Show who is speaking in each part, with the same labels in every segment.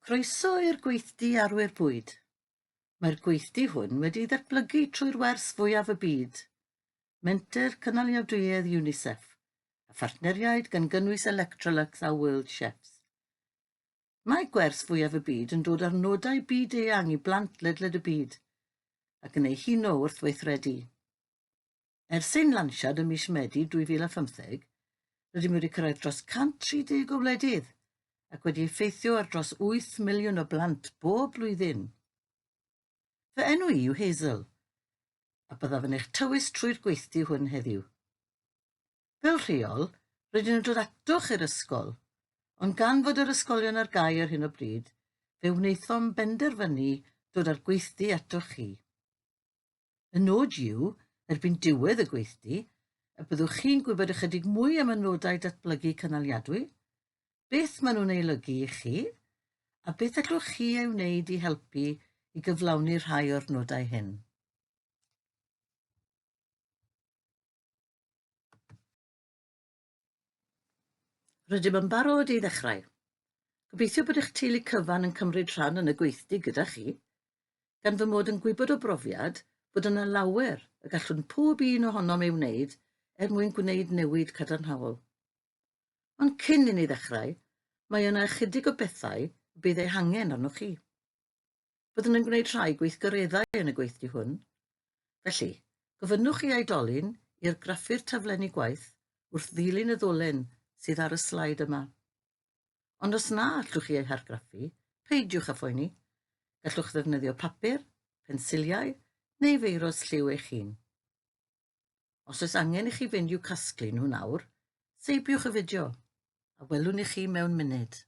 Speaker 1: Croeso i'r gweithdy arwyr bwyd. Mae'r gweithdy hwn wedi ddatblygu trwy'r wers fwyaf y byd, Menter Cynaliadwyedd UNICEF, a phartneriaid gan gynnwys Electrolux a World Chefs. Mae gwers fwyaf y byd yn dod â'r nodau byd-eang i blant ledled y byd, ac yn eu huno wrth weithredu. Ers ein lansiad ym mis Medi 2015, rydym wedi cyrraedd dros 130 o wledydd ac wedi effeithio ar dros 8 miliwn o blant bob blwyddyn. Fy enw i yw Hazel, a byddaf yn eich tywys trwy'r gweithdy hwn heddiw. Fel rheol, rydyn nhw'n dod atoch i'r ysgol, ond gan fod yr ysgolion ar gau ar hyn o bryd, fe wnaethom benderfynu dod â'r gweithdy atoch chi. Y nod yw, erbyn diwedd y gweithdy, y byddwch chi'n gwybod ychydig mwy am y nodau datblygu cynaliadwy, beth maen nhw'n ei olygu i chi, a beth allwch chi ei wneud i helpu i gyflawni rhai o'r nodau hyn. Rydym yn barod i ddechrau. Gobeithio bod eich teulu cyfan yn cymryd rhan yn y gweithdy gyda chi, gan fy mod yn gwybod o brofiad bod yna lawer y gallwn pob un ohonom ei wneud er mwyn gwneud newid cadarnhaol. Ond cyn i ni ddechrau, mae yna ychydig o bethau y bydd eu hangen arnoch chi. Byddwn yn gwneud rhai gweithgareddau yn y gweithdy hwn. Felly, gofynnwch i aedolyn i'r graffu'r taflenni gwaith wrth ddilyn y ddolen sydd ar y slaid yma. Ond os na allwch chi eu hargraffu, peidiwch â phoeni. Gallwch ddefnyddio papur, pensiliau neu feirws lliw eich hun. Os oes angen i chi fynd i'w casglu nhw nawr, seibiwch y fideo, a welwn i chi mewn munud.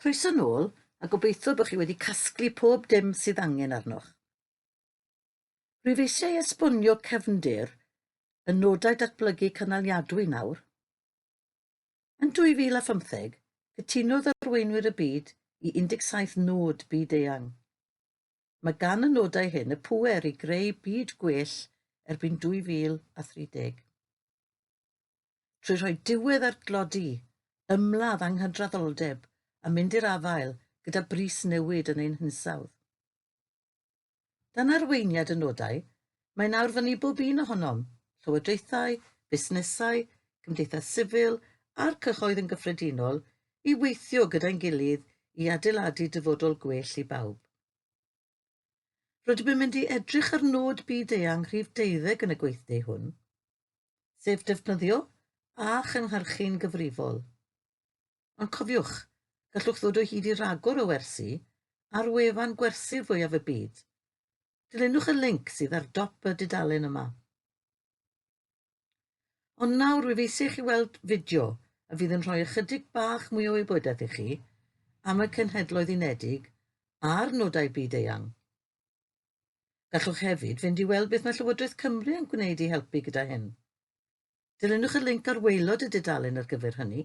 Speaker 1: Croeso nôl, a gobeithio bod chi wedi casglu pob dim sydd angen arnoch. Rwyf eisiau esbonio cefndir y nodau datblygu cynaliadwy nawr. Yn 2015, cytunodd arweinwyr y byd i 17 nod byd-eang. Mae gan y nodau hyn y pŵer i greu byd gwell erbyn 2030. trwy rhoi diwedd ar dlodi, ymladd anghydraddoldeb a mynd i'r afael gyda bris newid yn ein hinsawdd. Dan arweiniad y nodau, mae nawr fyny bob un ohonom, llywodraethau, busnesau, cymdeithas sifil a'r cyhoedd yn gyffredinol, i weithio gyda'n gilydd i adeiladu dyfodol gwell i bawb. Rydym yn mynd i edrych ar nod byd-eang rhif deuddeg yn y gweithdeu hwn, sef defnyddio a chynhyrchu'n gyfrifol. Ond cofiwch, gallwch ddod o hyd i ragor o wersi ar wefan gwersi fwyaf y byd. Dilynwch y linc sydd ar dop y dudalen yma. Ond nawr rwyf eisiau chi weld fideo a fydd yn rhoi ychydig bach mwy o wybodaeth i chi am y Cenhedloedd Unedig a'r nodau byd eang. Gallwch hefyd fynd i weld beth mae Llywodraeth Cymru yn gwneud i helpu gyda hyn. Dilynwch y linc ar waelod y dudalen ar gyfer hynny.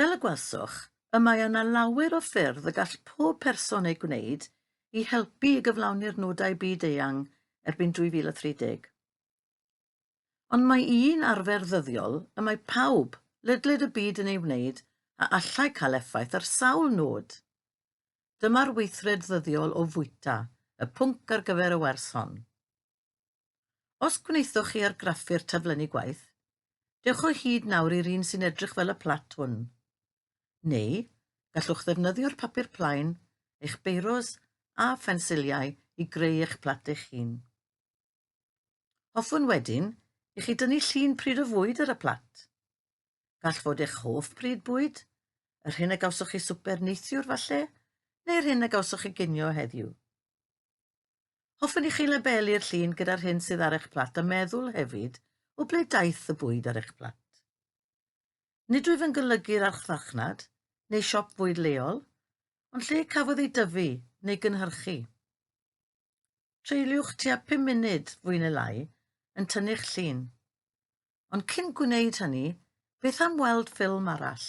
Speaker 1: Fel y gwelsoch, y mae yna lawer o ffyrdd y gall pob person eu gwneud i helpu i gyflawni'r nodau byd eang erbyn 2030. Ond mae un arfer ddyddiol y mae pawb, ledled y byd yn ei wneud a allai cael effaith ar sawl nod. Dyma'r weithred ddyddiol o fwyta, y pwnc ar gyfer y wers hon. Os gwnaethoch chi argraffu'r taflenni gwaith, dewch o hyd nawr i'r un sy'n edrych fel y plat hwn. Neu, gallwch ddefnyddio'r papur plaen, eich beiros a phensiliau i greu eich plat eich hun. Hoffwn wedyn i chi dynnu llun pryd o fwyd ar y plat. Gall fod eich hoff pryd bwyd, yr hyn a gawsoch chi swper neithiwr falle, neu'r hyn a gawsoch chi ginio heddiw. Hoffwn i chi lebelu'r llun gyda'r hyn sydd ar eich plat a meddwl hefyd o ble daeth y bwyd ar eich plat. Nid wyf yn golygu'r archfarchnad neu siop fwyd leol, ond lle cafodd ei dyfu neu gynhyrchu. Treuliwch tua 5 munud fwy neu lai yn tynnu'ch llun. Ond cyn gwneud hynny, beth am weld ffilm arall?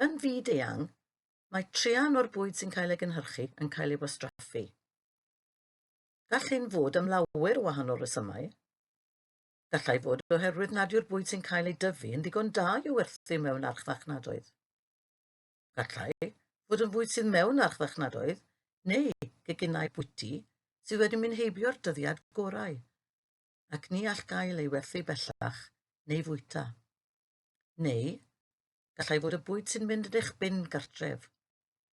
Speaker 1: Yn fyd-eang, mae traean o'r bwyd sy'n cael ei gynhyrchu yn cael ei wastraffu. Gall hyn fod am lawer o wahanol resymau. Gallai fod oherwydd nad yw'r bwyd sy'n cael ei dyfu yn ddigon da i'w werthu mewn archfarchnadoedd. Gallai fod yn fwyd sydd mewn archfarchnadoedd neu geginau bwyty sydd wedi mynd heibio'r dyddiad gorau ac ni all gael ei werthu bellach neu fwyta. Neu, gallai fod y bwyd sy'n mynd yn eich bin gartref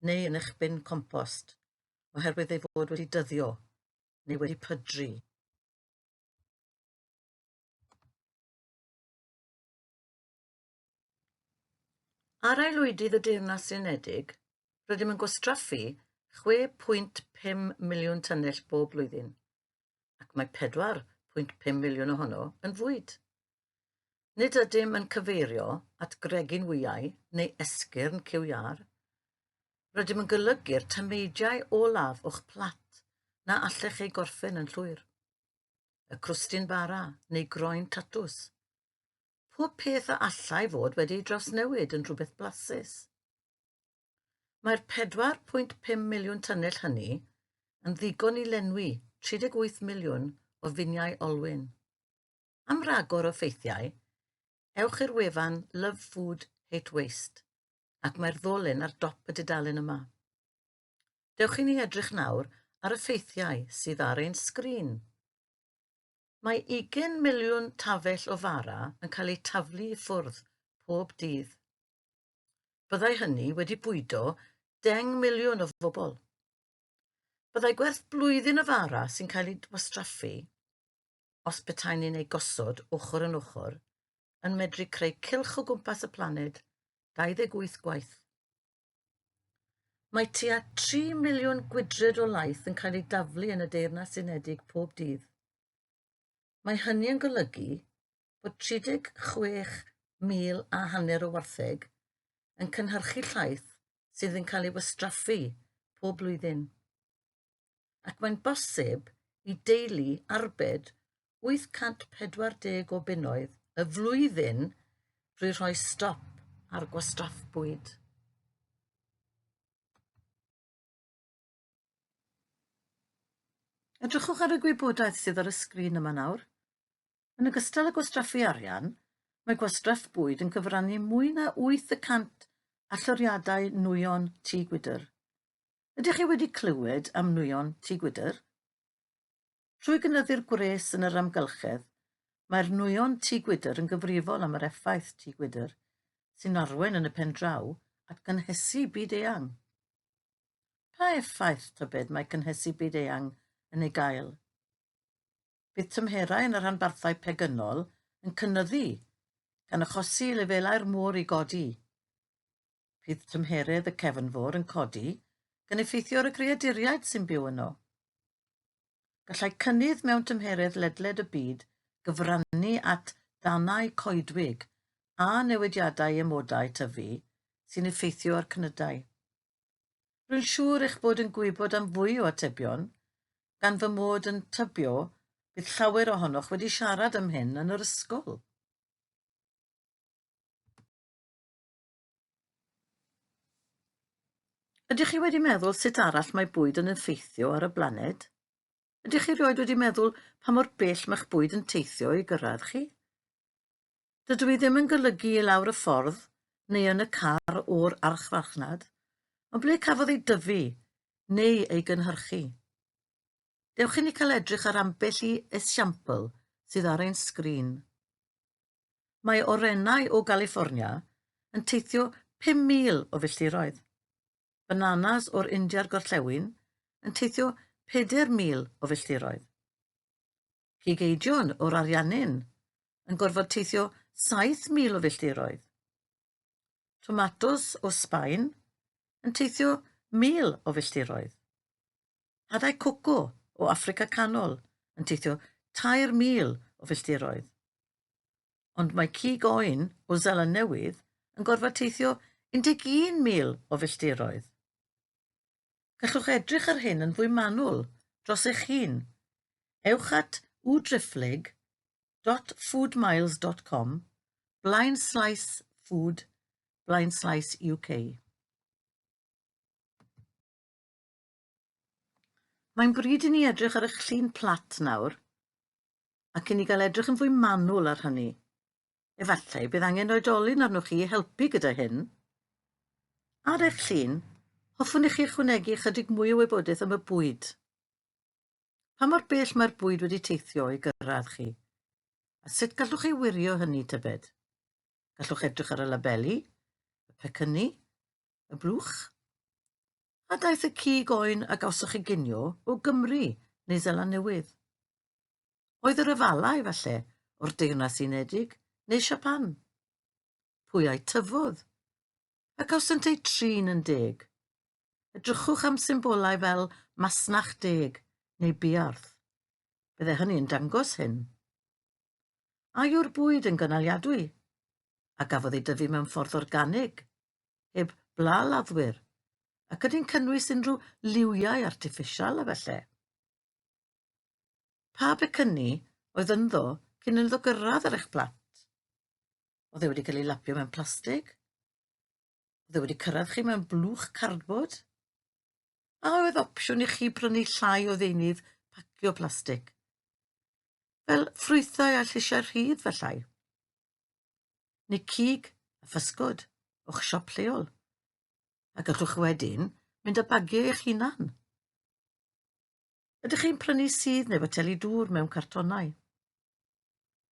Speaker 1: neu yn eich bin compost oherwydd ei fod wedi dyddio neu wedi pydru. Ar aelwydydd y Deyrnas Unedig, rydym yn gwastraffu 6.5 miliwn tynnell bob blwyddyn, ac mae 4.5 miliwn ohono yn fwyd. Nid ydym yn cyfeirio at gregyn wyau neu esgyrn ciwiâr. Rydym yn golygu'r tameidiau olaf o'ch plat na allech ei gorffen yn llwyr. Y crwstyn bara neu groen tatws. pob peth a allai fod wedi ei drawsnewid yn rhywbeth blasus. Mae'r 4.5 miliwn tynnell hynny yn ddigon i lenwi 38 miliwn o finiau olwyn. Am ragor o ffeithiau, ewch i'r wefan Love Food Hate Waste ac mae'r ddolyn ar dop y dudalen yma. Dewch i ni edrych nawr ar y ffeithiau sydd ar ein sgrin. Mae ugain miliwn tafell o fara yn cael eu taflu i ffwrdd pob dydd. Byddai hynny wedi bwydo deng miliwn o fobl. Byddai gwerth blwyddyn o fara sy'n cael ei wastraffu, os petaen ni'n ei gosod ochr yn ochr, yn medru creu cylch o gwmpas y planed 28 gwaith. Mae tua 3 miliwn gwydred o laeth yn cael ei daflu yn y Deyrnas Unedig pob dydd. Mae hynny yn golygu bod 36,000 a hanner o wartheg yn cynhyrchu llaeth sydd yn cael ei wastraffu pob blwyddyn. ac mae'n bosib i deulu arbed 840 o bunnoedd y flwyddyn drwy rhoi stop ar gwastraff bwyd. Edrychwch ar y gwybodaeth sydd ar y sgrin yma nawr. Yn ogystal â gwastraffu arian, mae gwastraff bwyd yn cyfrannu mwy na 800 allyriadau nwyon tŷ gwydr. Ydych chi wedi clywed am nwyon Tŷ Gwydr? Trwy gynyddu'r gwres yn yr amgylchedd, mae'r nwyon Tŷ Gwydr yn gyfrifol am yr effaith Tŷ Gwydr, sy'n arwain yn y pen draw at gynhesu byd eang. Pa effaith tybed mae cynhesu byd eang yn ei gael? Bydd tymherau yn y rhanbarthau pegynol yn cynyddu, gan achosi i lefelau'r môr i godi. Bydd tymheredd y cefn fôr yn codi, gan effeithio ar y creaduriaid sy'n byw yno. Gallai cynnydd mewn tymheredd ledled y byd gyfrannu at danau coedwig a newidiadau emodau tyfu sy'n effeithio ar cnydau. Rwy'n siŵr eich bod yn gwybod am fwy o atebion, gan fy mod yn tybio bydd llawer ohonoch wedi siarad am hyn yn yr ysgol. Ydych chi wedi meddwl sut arall mae bwyd yn effeithio ar y blaned? Ydych chi rioed wedi meddwl pa mor bell mae'ch bwyd yn teithio i gyrraedd chi? Dydw i ddim yn golygu i lawr y ffordd neu yn y car o'r archfarchnad, ond ble cafodd ei dyfu neu ei gynhyrchu. Dewch i ni cael edrych ar ambell i esiampl sydd ar ein sgrin. Mae orennau o Galiffornia yn teithio 5,000 o filltiroedd. Bananas o'r India'r Gorllewin yn teithio 4,000 o filltiroedd. Cigeidion o'r Ariannin yn gorfod teithio 7,000 o filltiroedd. Tomatos o Sbaen yn teithio 1,000 o filltiroedd. Hadau coco o Affrica Canol yn teithio 3,000 o filltiroedd. Ond mae cig oen o Zeland Newydd yn gorfod teithio 11,000 o filltiroedd. Gallwch edrych ar hyn yn fwy manwl dros eich hun. Ewch at udriphlyg www.foodmiles.com blaen slaes food blaen slaes UK. Mae'n bryd i ni edrych ar y llun plat nawr, ac i ni gael edrych yn fwy manwl ar hynny. Efallai bydd angen oedolyn arnoch chi i helpu gyda hyn. Ar eich llun, hoffwn i chi ychwanegu ychydig mwy o wybodaeth am y bwyd. Pa mor bell mae'r bwyd wedi teithio i gyrraedd chi? A sut gallwch ei wirio hynny tybed? Gallwch edrych ar y labeli, y pecynnu, y blwch. A daeth y cig oen a gawsoch chi ginio o Gymru neu Zeland Newydd? Oedd yr afalau, falle, o'r Deyrnas Unedig neu Siapan? Pwy a'i tyfodd? A gawsant eu trin yn deg? Edrychwch am symbolau fel masnach deg neu biarth. Bydde hynny yn dangos hyn. A yw'r bwyd yn gynaliadwy? A gafodd ei dyfu mewn ffordd organig heb bla laddwyr, ac ydy'n cynnwys unrhyw liwiau artiffisial a felly. Pa becynni oedd ynddo cyn iddo gyrraedd ar eich plat? Oedd e wedi cael ei lapio mewn plastig? Oedd e wedi cyrraedd chi mewn blwch cardbod? A oedd opsiwn i chi prynu llai o ddeunydd pacio plastig? Fel ffrwythau a lleisiau rhydd, felly. neu cig a physgod o'ch siop lleol, a gallwch wedyn mynd a bagio eich hunan. Ydych chi'n prynu sydd neu foteli dŵr mewn cartonau?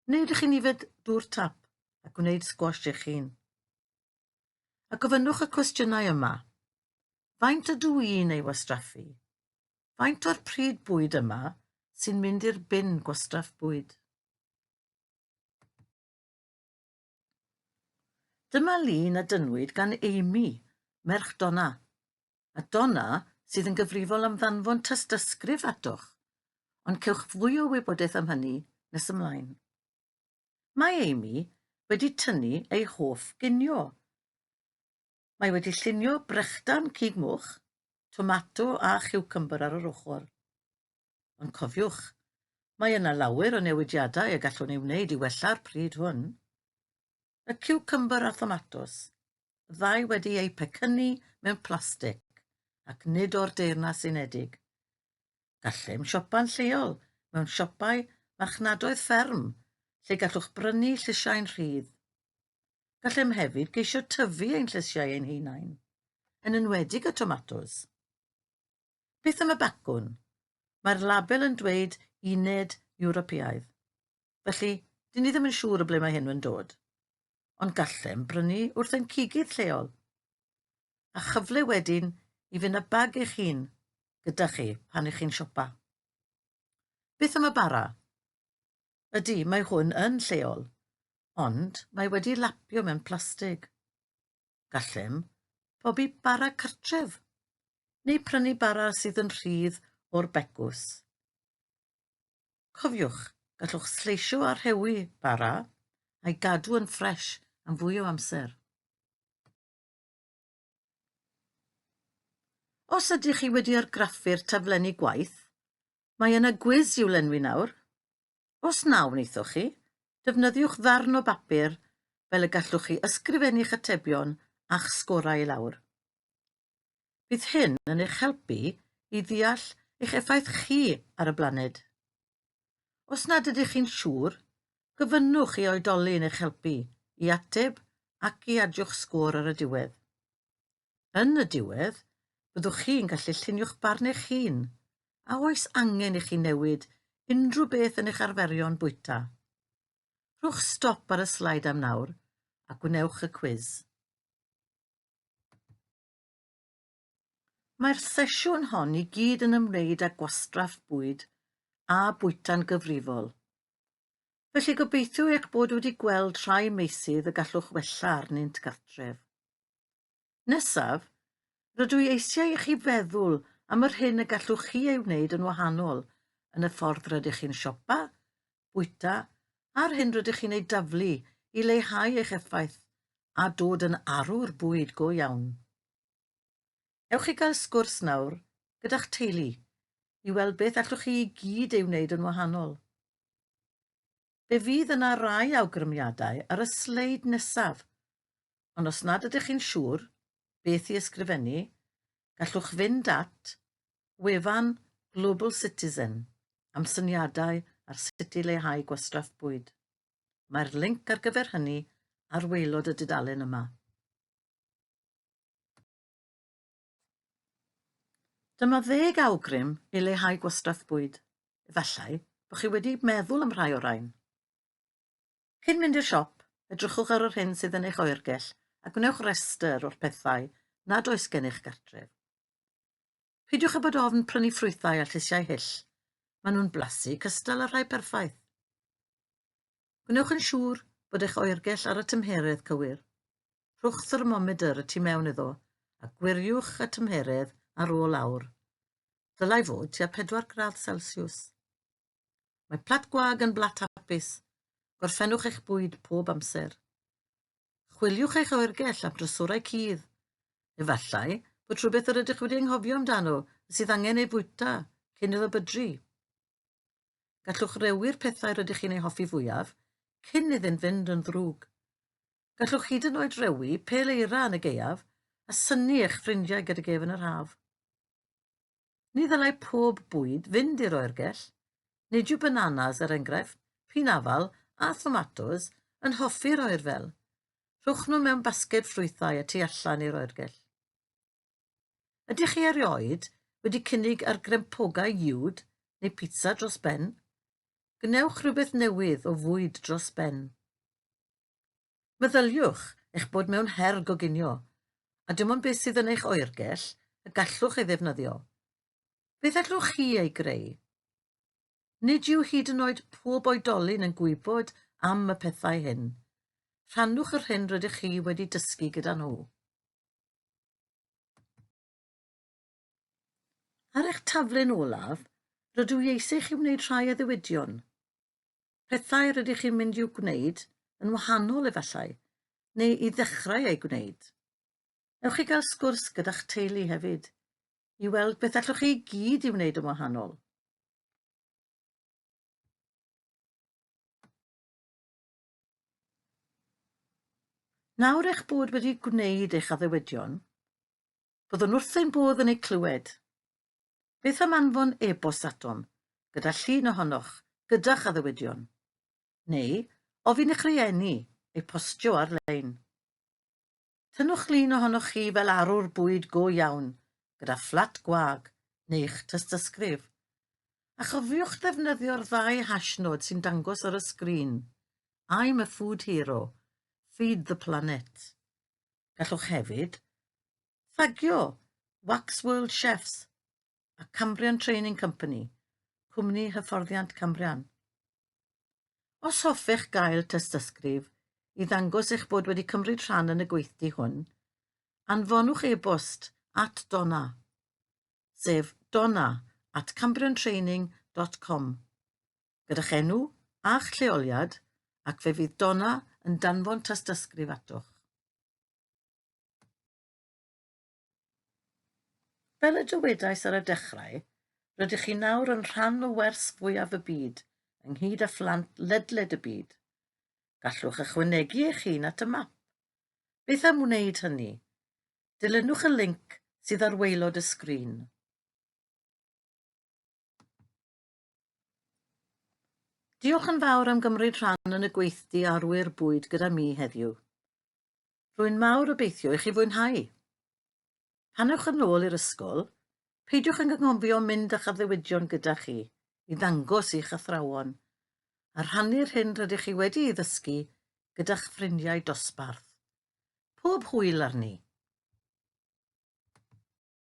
Speaker 1: Neu ydych chi'n yfed dŵr tap a gwneud sgwash eich hun? A gofynnwch y cwestiynau yma. Faint ydw i'n ei wastraffu? Faint o'r pryd bwyd yma sy'n mynd i'r bin gwastraff bwyd? Dyma lun a dynnwyd gan Amy, merch Donna, a Donna sydd yn gyfrifol am ddanfon tystysgrif atoch, ond cewch fwy o wybodaeth am hynny nes ymlaen. Mae Amy wedi tynnu ei hoff ginio. Mae wedi llunio brechdan cig moch, tomato a chiwcymbyr ar yr ochr. Ond cofiwch, mae yna lawer o newidiadau y gallwn ei wneud i wella'r pryd hwn. Y ciwcymbyr a thomatos, y ddau wedi eu pecynnu mewn plastig ac nid o'r Deyrnas Unedig. Gallem siopa'n lleol mewn siopau marchnadoedd fferm lle gallwch brynu llysiau'n rhydd. Gallem hefyd geisio tyfu ein llysiau ein hunain, yn enwedig y tomatos. Beth am y bacwn? Mae'r label yn dweud uned Ewropeaidd. Felly, dyn ni ddim yn siŵr o ble mae hyn yn dod. Ond gallem brynu wrth ein cigydd lleol. A chyfle wedyn i fynd â bag eich hun gyda chi pan ych chi'n siopa. Beth am y bara? Ydy, mae hwn yn lleol, ond mae wedi lapio mewn plastig. Gallem pobi bara cartref, neu prynu bara sydd yn rhydd o'r begws. Cofiwch, gallwch sleisio a rhewi bara a'i gadw yn ffres am fwy o amser. Os ydych chi wedi argraffu'r taflenni gwaith, Mae yna gwis i'w lenwi nawr. Os na wnaethoch chi, defnyddiwch ddarn o bapur fel y gallwch chi ysgrifennu'ch atebion a'ch sgorau i lawr. Bydd hyn yn eich helpu i ddeall eich effaith chi ar y blaned. Os nad ydych chi'n siŵr, gofynnwch i oedolyn eich helpu i ateb ac i adiwch sgôr ar y diwedd. Yn y diwedd, byddwch chi'n gallu llunio'ch barn eich hun. A oes angen i chi newid unrhyw beth yn eich arferion bwyta? Rhowch stop ar y slaid am nawr a gwnewch y cwiz. Mae'r sesiwn hon i gyd yn ymwneud â gwastraff bwyd a bwyta'n gyfrifol. Felly gobeithio eich bod wedi gweld rhai meysydd y gallwch wella arnynt gartref. Nesaf, rydw i eisiau i chi feddwl am yr hyn y gallwch chi ei wneud yn wahanol yn y ffordd rydych chi'n siopa, bwyta a'r hyn rydych chi'n ei daflu i leihau eich effaith a dod yn arwr bwyd go iawn. Ewch i gael sgwrs nawr gyda'ch teulu i weld beth allwch chi i gyd ei wneud yn wahanol. Fe fydd yna rai awgrymiadau ar y sleid nesaf, ond os nad ydych chi'n siŵr beth i ysgrifennu, gallwch fynd at wefan Global Citizen am syniadau ar sut i leihau gwastraff bwyd. Mae'r linc ar gyfer hynny ar waelod y dudalen yma. Dyma ddeg awgrym i leihau gwastraff bwyd. Efallai bod chi wedi meddwl am rhai o'r rhain. Cyn mynd i'r siop, edrychwch ar yr hyn sydd yn eich oergell a gwnewch restr o'r pethau nad oes gennych gartref. Peidiwch â bod ofn prynu ffrwythau a llysiau hyll. Maen nhw'n blasu cystal â rhai perffaith. Gwnewch yn siŵr bod eich oergell ar y tymheredd cywir. Rhowch thermomedr y tu mewn iddo a gwiriwch y tymheredd ar ôl awr. Dylai fod tua 4 gradd Celsius. Mae plat gwag yn blat hapus. Gorffennwch eich bwyd pob amser. Chwiliwch eich oergell am drysorau cudd. Efallai bod rhywbeth yr ydych wedi anghofio amdano sydd angen ei fwyta cyn iddo bydru. Gallwch rewi'r pethau rydych chi'n eu hoffi fwyaf cyn iddynt fynd yn ddrwg. Gallwch hyd yn oed rewi pêl eira yn y gaeaf a synnu eich ffrindiau gydag ef yn yr haf. Ni ddylai pob bwyd fynd i'r oergell. Nid yw bananas, er enghraifft, pin afal a thomatos yn hoffi'r oer fel. Rhowch nhw mewn basged ffrwythau a tu allan i'r oergell. Ydych chi erioed wedi cynnig ar grempogau uwd neu pizza dros ben? Gwnewch rhywbeth newydd o fwyd dros ben. Meddyliwch eich bod mewn her goginio, a dim ond beth sydd yn eich oergell y gallwch ei ddefnyddio. Beth allwch chi ei greu? Nid yw hyd yn oed pob oedolyn yn gwybod am y pethau hyn. Rhannwch yr hyn rydych chi wedi dysgu gyda nhw. Ar eich taflen olaf, rydw i eisiau chi wneud rhai o ddiwydion. Pethau rydych chi'n mynd i'w gwneud yn wahanol efallai, neu i ddechrau ei gwneud. Ewch i gael sgwrs gyda'ch teulu hefyd, i weld beth allwch chi i gyd i wneud yn wahanol. Nawr eich bod wedi gwneud eich addewedion, byddwn wrth ein bodd yn eu clywed. Beth am anfon e-bost atom gyda llun ohonoch gyda'ch addewedion? Neu ofyn i'ch rhieni eu postio ar-lein. Tynnwch lun ohonoch chi fel arwr bwyd go iawn, gyda fflat gwag neu'ch tystysgrif, a chofiwch ddefnyddio'r ddau hashnod sy'n dangos ar y sgrin, I'm a food hero, feed the planet. Gallwch hefyd thagio Wax World Chefs a Cambrian Training Company, cwmni hyfforddiant Cambrian. Os hoffech gael tystysgrif i ddangos eich bod wedi cymryd rhan yn y gweithdy hwn, anfonwch e-bost at Donna, sef donna at cambriontraining.com, gyda'ch enw a'ch lleoliad ac fe fydd Donna yn danfon tystysgrif atoch. Fel y dywedais ar y dechrau, rydych chi nawr yn rhan o wers fwyaf y byd, ynghyd â phlant ledled y byd. Gallwch ychwanegu eich hun at y map. Beth am wneud hynny? Dilynwch y linc sydd ar waelod y sgrin. Diolch yn fawr am gymryd rhan yn y gweithdy arwyr bwyd gyda mi heddiw. Rwy'n mawr obeithio i chi fwynhau. Pan ewch yn ôl i'r ysgol, peidiwch yn gynghofio mynd â'ch addewidion gyda chi i ddangos i'ch athrawon, a rhannu'r hyn rydych chi wedi ei ddysgu gyda'ch ffrindiau dosbarth. Pob hwyl arni!